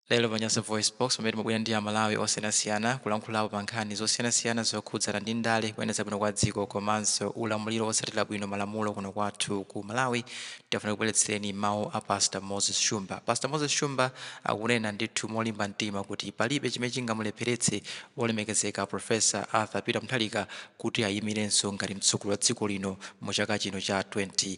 Lero pa Nyasa VoiceBox pamene timabwera ndi Amalawi osiyanasiyana kulankhulapo pa nkhani zosiyanasiyana zokhudzana ndi ndale, kuyendetsa bwino kwa dziko komanso ulamuliro wotsatira bwino malamulo kuno kwathu ku Malawi, tafuna kukubweretsereni mawu a Pastor Moses Shumba. Pastor Moses Shumba akunena ndithu molimba mtima kuti palibe chimene chingamulepheretse wolemekezeka Professor Arthur Peter Mutharika kuti ayimirenso ngati mtsogoleri wa dziko lino mu chaka chino cha 2025.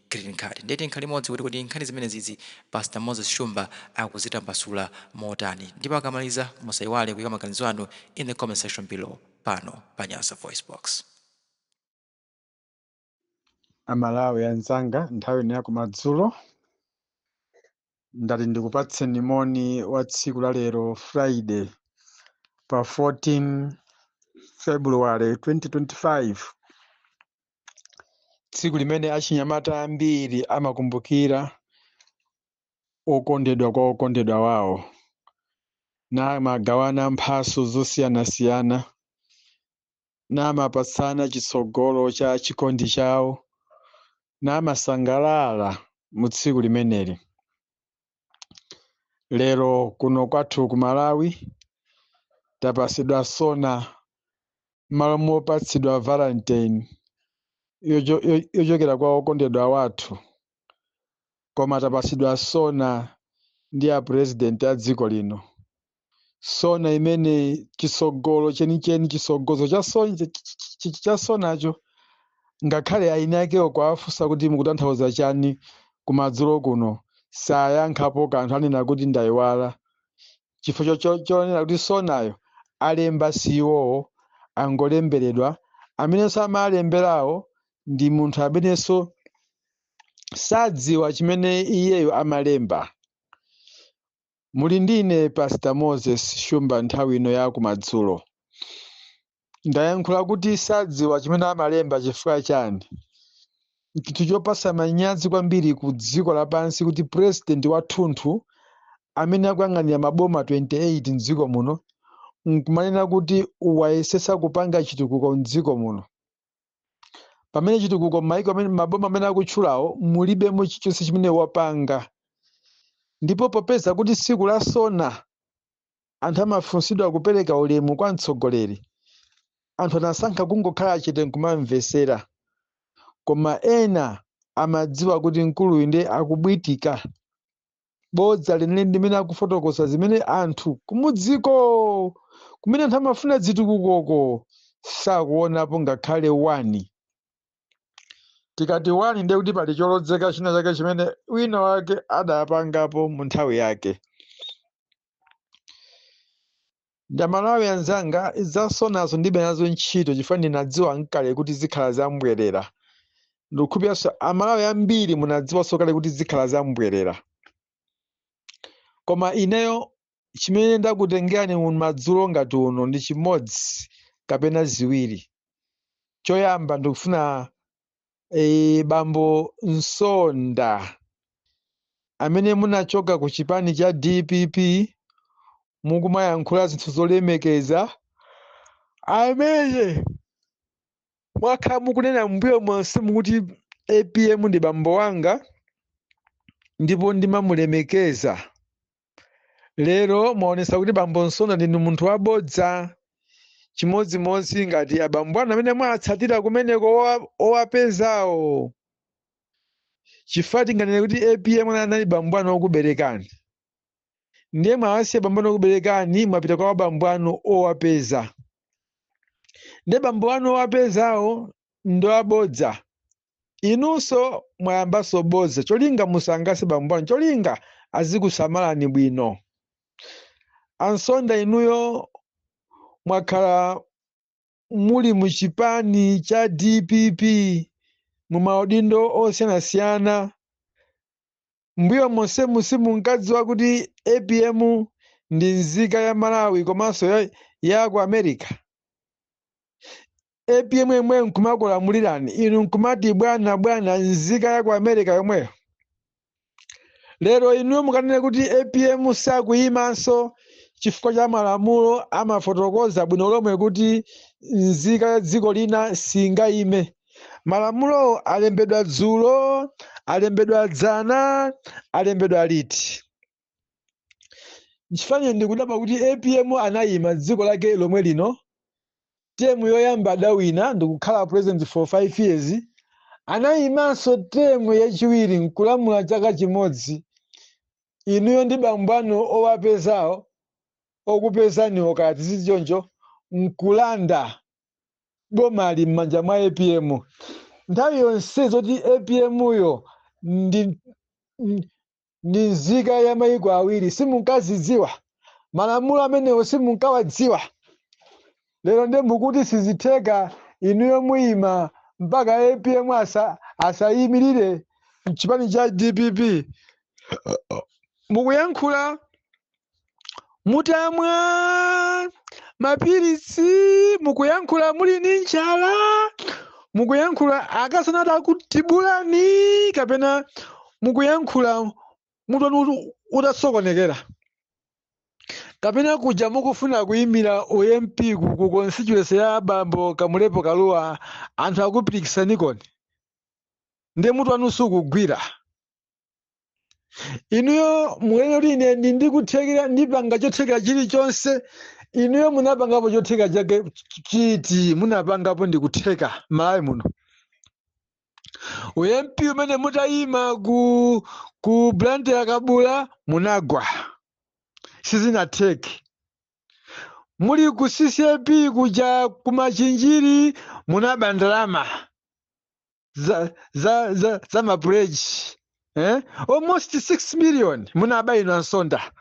green card ndiye tikhale limodzi kuti kodi nkhani zimenezizi pastor moses shumba akuzitambasula motani ndipo akamaliza musayiwale kuyika maganizo anu in the comment section below pano pa nyasa voice box amalawi anzanga nthawi ino yakumadzulo ndati ndikupatseni moni wa tsiku la lero friday pa 14 february 2025 tsiku limene achinyamata ambiri amakumbukira okondedwa kwa okondedwa wawo namagawana mphaso zosiyanasiyana namapatsana chitsogolo cha chikondi chawo namasangalala mu tsiku limeneli lero kuno kwathu ku Malawi tapasidwa sona m'malo mopatsidwa valentine yocho- yo- yochokera kwa okondedwa wathu koma tapasidwa sona ndi a president a dziko lino sona imene chisogolo chenicheni chisogozo cha so- ch- ch- ch- ch- cha sonacho ngakhale eni akewo kuwafunsa kuti mukutanthauza chani kumadzulo kuno sayankhapo kanthu anena kuti ndayiwala chifukwa cho- cho- chonena kuti sonayo alemba si iwowo angolemberedwa amenenso amalemberawo ndi munthu amenenso sadziwa chimene iyeyo amalemba Muli ndi ine Pastor Moses Shumba nthawi ino ya kumadzulo. Ndayankhula kuti sadziwa chimene amalemba chifukwa chani? N'chinthu chopatsa manyazi kwambiri ku dziko lapansi kuti president wathunthu amene akuyang'anira maboma 28 m'dziko muno n'kumanena kuti wayesetsa kupanga chitukuko m'dziko muno. pamene chitukuko m'maiko amene maboma amene akutchulawo mulibemo chilichonse chimene wapanga ndipo popeza kuti tsiku la sona anthu amafunsidwa kupereka ulemu kwa mtsogoleri anthu anasankha kungokhala chete nkumamvetsera koma ena amadziwa kuti mkuluyu ndiye akubwitika bodza lenileni ndi limene akufotokoza zimene anthu kumudziko kumene anthu amafuna zitukukoko sakuonapo ngakhale wani tikati wani ndiye kuti pali cholodzeka china chake chimene wina wake adapangapo mu nthawi yake ndi amalawi anzanga zamasomphenyazo ndibe nazo ntchito chifukwa ndinadziwa nkale kuti zikhala zambwerera ndikukhulupiriranso amalawi ambiri munadziwanso kale kuti zikhala zambwerera koma ineyo chimene ndakutengerani madzulo ngati uno ndi chimodzi kapena ziwiri choyamba ndikufuna e, bambo Msonda amene munachoka ku chipani cha DPP mukumayankhula zinthu zolemekeza amene mwakhala mukunena mbuyo monse mukuti APM ndi bambo wanga ndipo ndimamulemekeza lero mwaonesa kuti bambo msonda ndinu munthu wabodza chimodzimodzi ngati abambo anu amene mwatsatira kumeneko owa- owapezawo chifukwa tinganene kuti apm ana anali bambo anu okuberekani ndiye mwawasiya bambo anu okuberekani mwapita kwa bambo anu owapeza ndiye bambo anu owapezawo ndi abodza inunso mwayambanso bodza cholinga musangalatse bambo anu cholinga azikusamalani bwino a msonda inuyo mwakhala muli mu chipani cha dpp mu maudindo osiyanasiyana M'mbuyo monsemu simunkadziwa kuti apm ndi nzika ya Malawi komanso ya, ya ku America? apm yemweyo nkumakulamulirani inu nkumati bwana bwana nzika ya ku America yomweyo? Lero inuyo mukanene kuti apm sakuyimanso chifukwa cha malamulo amafotokoza bwino lomwe kuti nzika ya dziko lina singayime. malamulowo alembedwa dzulo alembedwa dzana alembedwa liti nchifukwa ineyo ndikudabwa kuti apm anayima dziko lake lomwe lino temu yoyamba adawina ndikukhala president for five years anayimanso temu yachiwiri nkulamula chaka chimodzi inuyo ndi bambo anu owapezawo okupezaniwo kaya tiziti choncho nkulanda bomali m'manja mwa apm nthawi yonse zoti apmyo ndi ndi- ndi nzika ya mayiko awiri simunkazidziwa malamulo amenewo simunkawadziwa lero nde mukuti sizitheka inuyo muyima mpaka apm asa, asayimirire mchipani cha dpp mukuyankhula mutamwa mapiritsi mukuyankhula muli ndi njala mukuyankhula akazanu atakutibulani kapena mukuyankhula mutu wanu utasokonekera kapena kuja mukufuna kuyimira ump ku- ku constituency ya bambo kamlepo kalua anthu akupirikitsanikoni ndiye mutu wanu sukugwira inuyo mukunena kuti ine ndi ndikuthekera ndipanga chothekera chilichonse inuyo munapangapo chothekera chake ch- chiti munapangapo ndikutheka m'malawi muno ump umene mutayima ku ku blantyre kabula munagwa sizinatheke muli ku ccap kuja kumachinjiri munaba ndalama za za za, za mapleji eh? almost 6 million munaba inu a msonda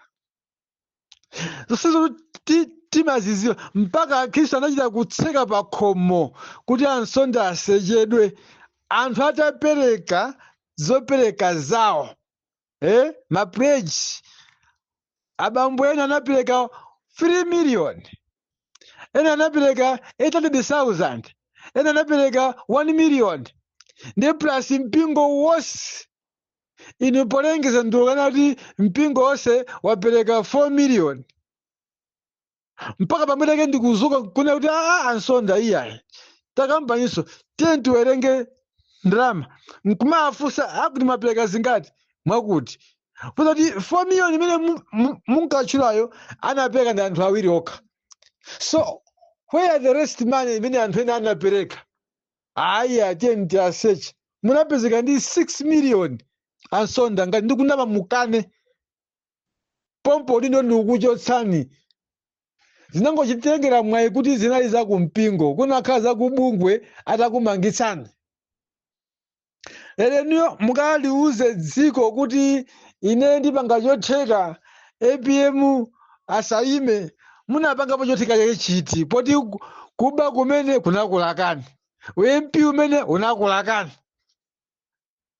zonsezi ti- timazidziwa mpaka akhristu anachita kutseka pa khomo kuti a msonda asechedwe anthu atapereka zopereka zawo eh, mapleji abambo ena anapereka 3 million ena anapereka 800,000 ena anapereka 1 million ndi plus mpingo wonse inu polengeza ndikukanena kuti mpingo wonse wapereka 4 million mpaka pamene ke ndikudzuka kunena kuti aa a msonda iyayi takambaninso tiye tiwerenge ndalama nkumafunsa akuti mwapereka zingati mwakuti fuza kuti 4 million imene mu- mu- munkatchulayo anapereka ndi anthu awiri okha so where the rest money imene anthu ena anapereka ayi atiyeni tiwaseche munapezeka ndi 6 million a msonda ngati ndikunama mukane pompo udindo ndikukuchotsani zinangochitengera mwayi kuti zinali za kumpingo kunakhala za kubungwe atakumangitsani lero inuyo mukaliuze dziko kuti ine ndipanga chotheka apm asayime munapangapo chotheka chake chiti poti ku- kuba kumene kunakulakani ump umene unakulakani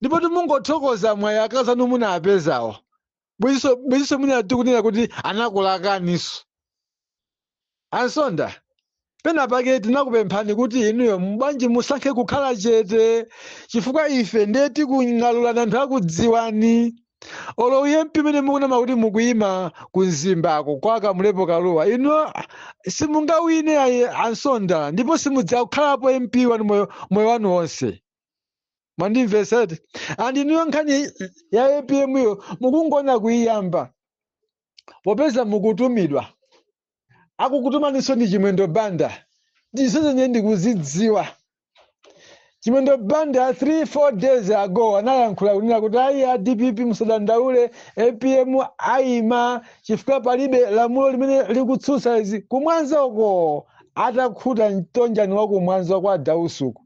ndipo timungothokoza mwayi akazi anu munapezawo bwezinso bwezinso mwina tikunena kuti anakulakaniso ansonda pena pake tinakupemphani kuti inuyo mbwanji musankhe kukhala chete chifukwa ife ndiye tikung'alulana anthu akudziwani olo u mp umene mukunama kuti mukuyima ku mzimbako kwa kamulepo kaluwa inu simungawine ayi ansonda ndipo simudzakhalapo mp wanu moyo moyo wanu wonse mwandimvesa eti and inuyo nkhani ya apm yo mukungona kuiyamba popeza mukutumidwa akukutumaninso ndi chimwendo banda ndizo zomwe ndikuzidziwa chimwendo banda 3 4 days ago anayankhula kunena kuti ayi a dpp musadandaule apm ayima chifukwa palibe lamulo limene likutsutsa izi kumwanza uko atakhuta mtonjani wa kumwanza kwa a dausi uku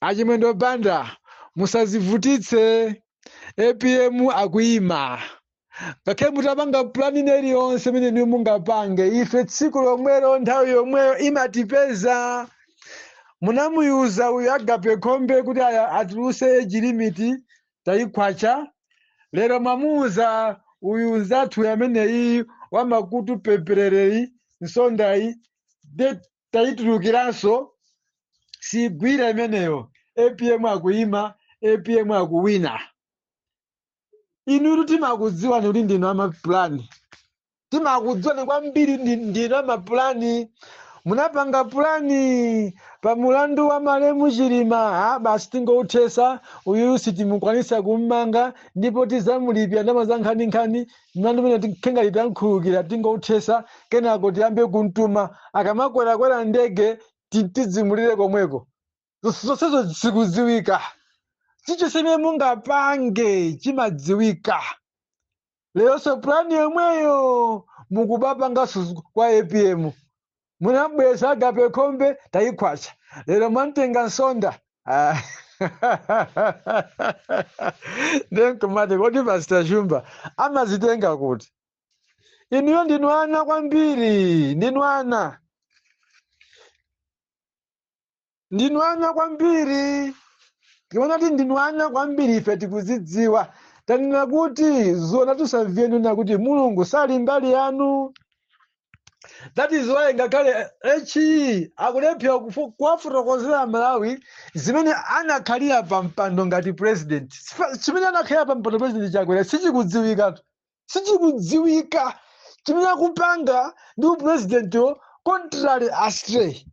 achimwendo banda musazivutitse apm akuyima ngakhale mutapanga pulani ina iliyonse imene inuyo mungapange ife tsiku lomwelo nthawi yomweyo imatipeza munamuuza uyu agape khombe kuti aya- atuluse age limit tayikhwacha lero mwamuwuza uyu nzathu ameneyi wamakutu peperereyi nsondayi de tayitulukiranso siyigwira imeneyo apm akuyima apm akuwina inutu timakudziwani kuti ndinu amapulani timakudziwani kwambiri ndi- ndinu amapulani munapanga pulani pa mulandu wa malemu chilima a basi tingouthesa uyu sitimukwanisa kummanga ndipo tizamulipira ndama za nkhaninkhani mlandu umene tikhale ngati tamukhululukira tingouthesa kenako tiyambe kumtuma akamakwerakwera ndege ti- tidzimulire komweko Zos- zonsezo zikudziwika chilichonse chimene mungapange chimadziwika leronso pulani yomweyo mukubapanganso kwa apm munambweza agape khombe tayikhwacha lero mwamtenga nsonda Ah. nde nkumati kodi pastor shumba amazitenga kuti inuyo ndinu ana kwambiri ndinu ana ndinu ana kwambiri tiona kuti ndinu ana kwambiri ife tikuzidziwa tanena kuti zona tusamviyeni na kuti mulungu sali mbali yanu that is why ngakhale HE akulephera kufu- kuwafotokozera amalawi zimene anakhalira pa mpando ngati president Sifa- chimene anakhalira pa mpando president chakwera sichikudziwikatu sichikudziwika chimene akupanga ndi upresidentiwo contrary astray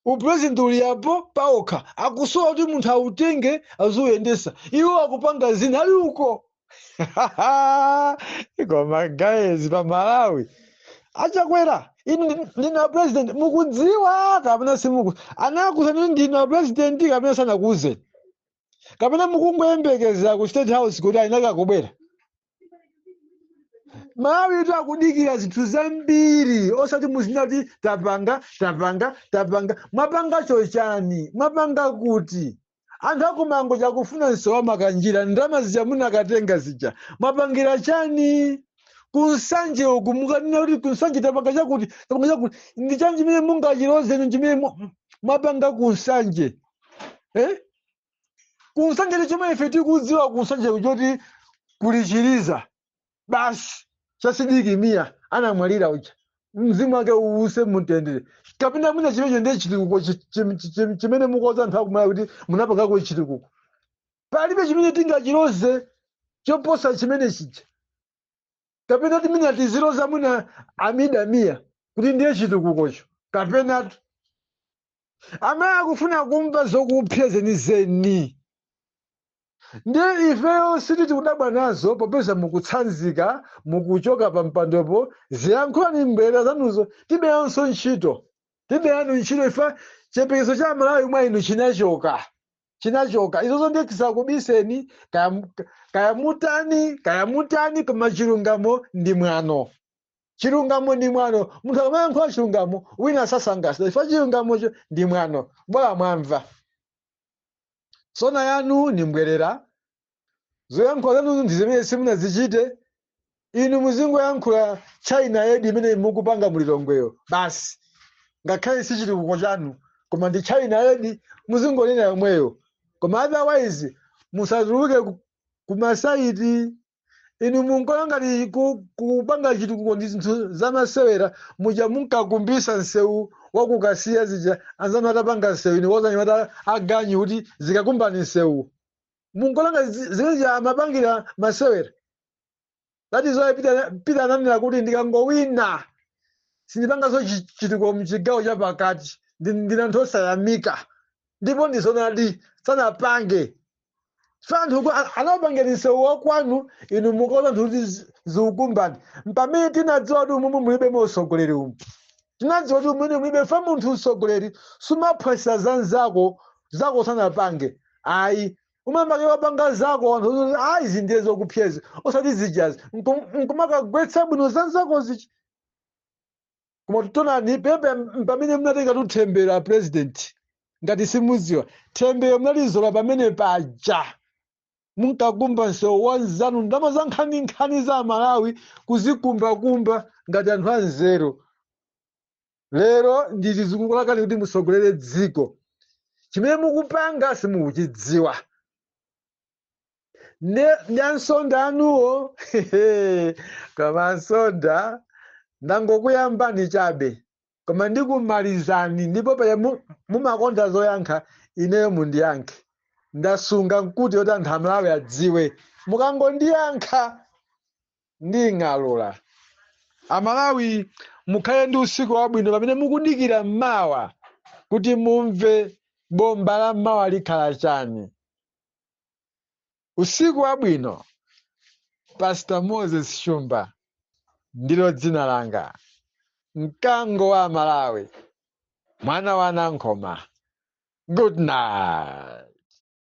upresident ulipo paokha akusowa kuti munthu autenge aziuyendesa iwo akupanga zina ali uko koma guys apa malawi achakwera inu ndi- ndinu a president mukudziwa kapena simuku- anakuuzani kuti ndinu a president kapena sanakuuzeni kapena mukungoyembekezera ku state house kuti alinaka kubwera amalawitu akudikira zinthu zambiri osati muzinena kuti tapanga tapanga tapanga mwapanga chochani mwapanga kuti anthu akumangochi akufuna msewu wa makanjira ndalama zija munakatenga zija mwapangira chani ku nsanje uku mukunena kuti ku nsanje tapanga chakuti tapanga chakuti ndi chani chimene mungachiloze chimene mu- mwapanga ku nsanje eh? ku nsanje ndi chomwe ife tikudziwa ku nsanje ku n'choti kuli chiliza basi cha sidik mia anamwalira uja mzimu wake uuse mumtendere kapena mwina chimenecho ndiye chitukuko chi- chi- chi- chi- chimene mukuuza anthu akum'mwera kuti munapangako chitukuko palibe chimene tingachiloze choposa chimene chija kapena timene tiziloza mwina abida mia kuti ndiye chitukukocho kapenatu amene akufuna kumva zokupsya zenizeni ndi ifeyo sitikudabwa nazo popeza mukutsanzika mukuchoka pa mpandopo ziyankhulani mbwerera zanuzo tilibenso ntchito tilibe nanu ntchito ife chiyembekezo cha amalawi mwa inu chinachoka chinachoka izozo ndiye tisakubiseni kaya mu- kaya mutani kaya mutani koma chilungamo ndi mwano chilungamo ndi mwano munthu akamayankhula chilungamo wina sasangalala chifukwa chilungamocho ndi mwano bola mwamva sona yanu ni mbwerera zoyankhula zanuzo n'zinthu zimene simunazichite inu muzingoyankhula china aid imene mukupanga mu lilongweyo basi ngakhale si chitukuko chanu koma ndi china aid muzingonena yomweyo koma otherwise musatuluke ku- kumasaiti inu munkaona ngati ku- kupanga chitukuko ndi zinthu zamasewera muja munkakumbisa msewu wa ku kasiya zija anzanu atapanga msewu inu kuuza anyamata aganyu kuti zikakumbeni msewu munkaona ngati zimene amapangira masewera that is why Peter Peter ananena kuti ndikangowina sindipanganso chi- chitukuko mchigawo cha pakati ndi- ndinu anthu osayamika ndipo ndizonadi sanapange chifukwa anthu anawapangira msewu wakwanu inu mukauza anthu kuti zi- ziukumbani mpamene tinadziwa kuti umumu mulibe mo utsogoleri umu tinadziwa kuti umene mulibe umunthu utsogoleri sumaphwasula za nzako zako usanapange ayi umayamba kaye wapanga zako anthu ozoti ayi izi ndiye zokupsa izi osati zijazi Nkum- nkumakagwetsa bwino za nzako zichi koma tikuonani pepe pamene munatenga themberero a president ngati simudziwa themberero munalizola pamene paja munkakumba msewu wa nzanu ndalama za nkhaninkhani za amalawi kuzikumbakumba ngati anthu anzeru lero ndi izi zikukulakani kuti mutsogolere dziko chimene mukupanga simukuchidziwa ne ndi ansonda anuwo koma ansonda ndangokuyambani chabe koma ndikumalizani ndipo paja mu- mumakonda zoyankha ineyo mundiyankhe ndasunga nkuti yoti anthu amalawi adziwe mukangondiyankha nding'alula amalawi mukhale ndi usiku wabwino pamene mukudikira mmawa kuti mumve bomba la mmawa likhala chani Usiku wabwino, Pastor Moses Shumba ndilo dzina langa, mkango wa Amalawi, mwana wa Nankhoma. Good night.